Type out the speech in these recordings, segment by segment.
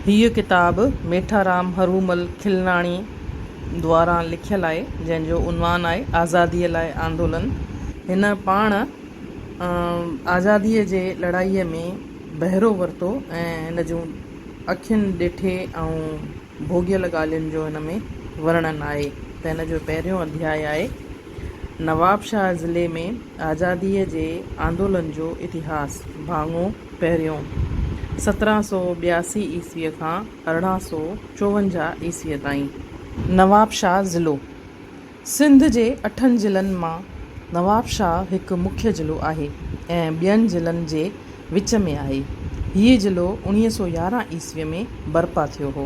هيء ڪتاب ميٺارام هرومل کلناڻي دواران لکيل آهي، جنهن جو عنوان آهي آزاديء لاء آندولن. هن پاڻ آزاديء جي لڙائيء ۾ بهرو ورتو ۽ هن جون اکين ڏٺي ۽ ڀوڳيل ڳالهين جو هن ۾ ورڻن آهي ته هن جو پهريون اڌياء آهي، نوابشاهه ضلعي ۾ آزاديء جي آندولن جو اتهاس، ڀاڱو، پهريون، سترهن سؤ ٻياسي عيسويء کان ارڙهن سؤ چوونجاهه عيسويء تائين. نوابشاهه ضلعو، سنڌ جي اٺن ضلعن مان نوابشاهه هڪ مکيه ضلعو آهي ۽ ٻين ضلعن جي وچ ۾ آهي. هيء ضلعو اڻيهه سؤ يارهن عيسويء ۾ برپا ٿيو هو.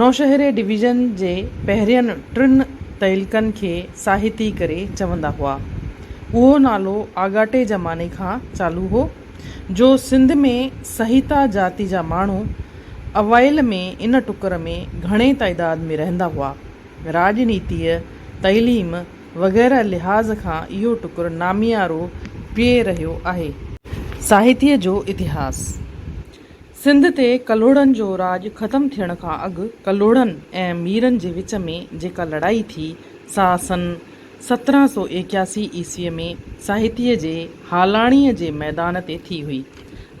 نوشهري ڊويزن جي پهرين ٽن تعلقن کي ساهتي ڪري چوندا هئا. اهو نالو آڳاٽي زماني کان چالو هو، جو سنڌ ۾ سهيتا جاتي جا ماڻهو اوائل ۾ ان ٽڪر ۾ گهڻي تعداد ۾ رهندا هئا. راڄنيتيء، تعليم وغيره لحاظ کان اهو ٽڪر ناميارو پئي رهيو آهي. ساهتيء جو اتهاس. سنڌ تي ڪلهوڙن جو راڄ ختم ٿيڻ کان اڳ ڪلهوڙن ۽ ميرن جي وچ ۾ جيڪا لڙائي ٿي، سا سن سترهن سؤ ايڪياسي عيسويء ۾ ساهتيء جي هالاڻيء جي ميدان تي ٿي هئي.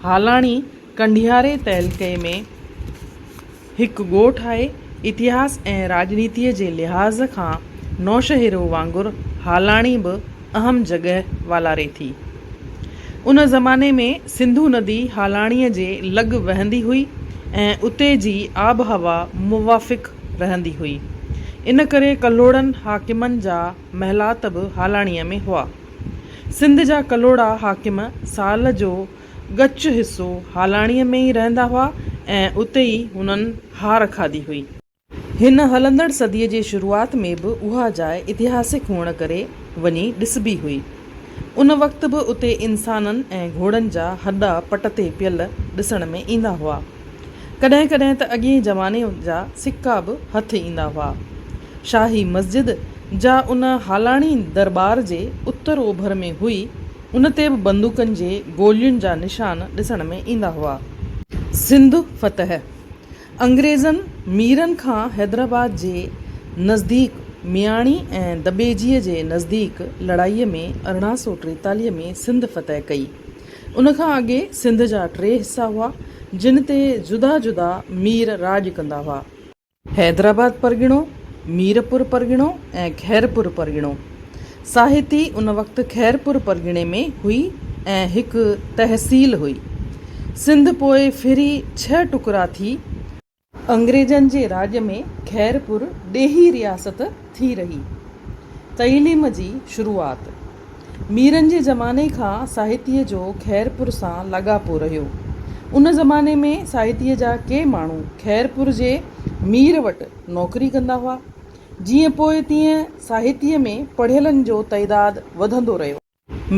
هالاڻي ڪنڍياري تعلقي ۾. هڪ ڳوٺ آهي. اتهاس ۽ راڄنيتيء جي لحاظ کان نوشهرو وانگر هالاڻي به اهم جڳهه والاري ٿي. ان زماني ۾ سنڌو ندي هالاڻيء جي لڳ وهندي هئي ۽ اتي جي آبهوا موافق رهندي هئي. ان ڪري ڪلهوڙن حاڪمن جا محلات به هالاڻيء ۾ هئا. سنڌ جا ڪلهوڙا حاڪم سال جو ڳچ حصو هالاڻيء ۾ ئي رهندا هئا ۽ اتي ئي هنن هار کاڌي هئي. هن هلندڙ صديء جي شروعات ۾ به اها جاء اتهاسڪ هئڻ ڪري وڃي ڏسبي هئي. ان وقت به اتي انسانن ۽ گهوڙن جا هڏا پٽ تي پيل ڏسڻ ۾ ايندا هئا. ڪڏهن ڪڏهن ته اڳئين زماني جا سڪا به هٿ ايندا هئا. شاهي مسجد، جا ان هالاڻي درٻار جي اتر اوڀر ۾ هئي، ان تي به بندوقن جي گولين جا نشان ڏسڻ ۾ ايندا هئا. سنڌ فتح، انگريزن ميرن کان حيدرآباد جي نزديڪ مياڻي ۽ دٻيجيء جي نزديڪ لڙائيء ۾ ارڙهن سؤ ٽيتاليهه ۾ سنڌ فتح ڪئي. ان کان اڳي سنڌ جا ٽي حصا هئا، جن تي جدا جدا مير راڄ ڪندا هئا. حيدرآباد پرڳڻو، ميرپور پرڳڻو ۽ خيرپور پرڳڻو. ساهتي ان وقت خيرپور پرڳڻي ۾ هئي ۽ هڪ تحصيل هئي. سنڌ پوء ڦري ڇهه ٽڪرا ٿي. انگريزن جي راڄ ۾ خيرپور ڏيهي رياست ٿي رهي. تعليم جي شروعات. ميرن جي زماني کان ساهتيه جو خيرپور سان لاڳاپو رهيو. ان زماني ۾ ساهتيه جا ڪي ماڻهو خيرپور جي مير وٽ نوڪري ڪندا هئا. جيئن پوء تيئن ساهتيه ۾ پڙهيلن جو تعداد وڌندو رهيو.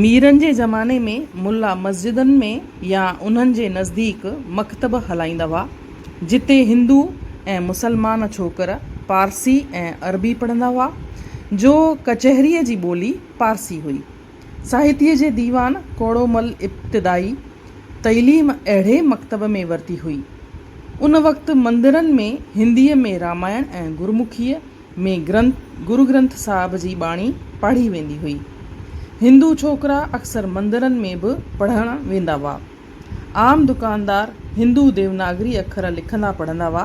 ميرن جي زماني ۾ ملا مسجدن ۾ يا انهن جي نزديڪ مڪتب هلائيندا هئا. جتي هندو ۽ مسلمان ڇوڪر پارسي ۽ عربي پڙهندا هئا، جو ڪچهريء جي ٻولي پارسي هئي. ساهتيه جي ديوان ڪوڙومل ابتدائي تعليم اهڙي مڪتب ۾ ورتي هئي. ان وقت مندرن ۾ هنديء ۾ رامائڻ ۽ گرمکيء ۾ گرنٿ گرگرنٿ صاحب جي ٻاڻي پاڙهي ويندي هئي. هندو ڇوڪرا اڪثر مندرن ۾ به پڙهڻ ويندا هئا. عام دڪاندار هندو ديوناگري اکر لکندا پڙهندا هئا.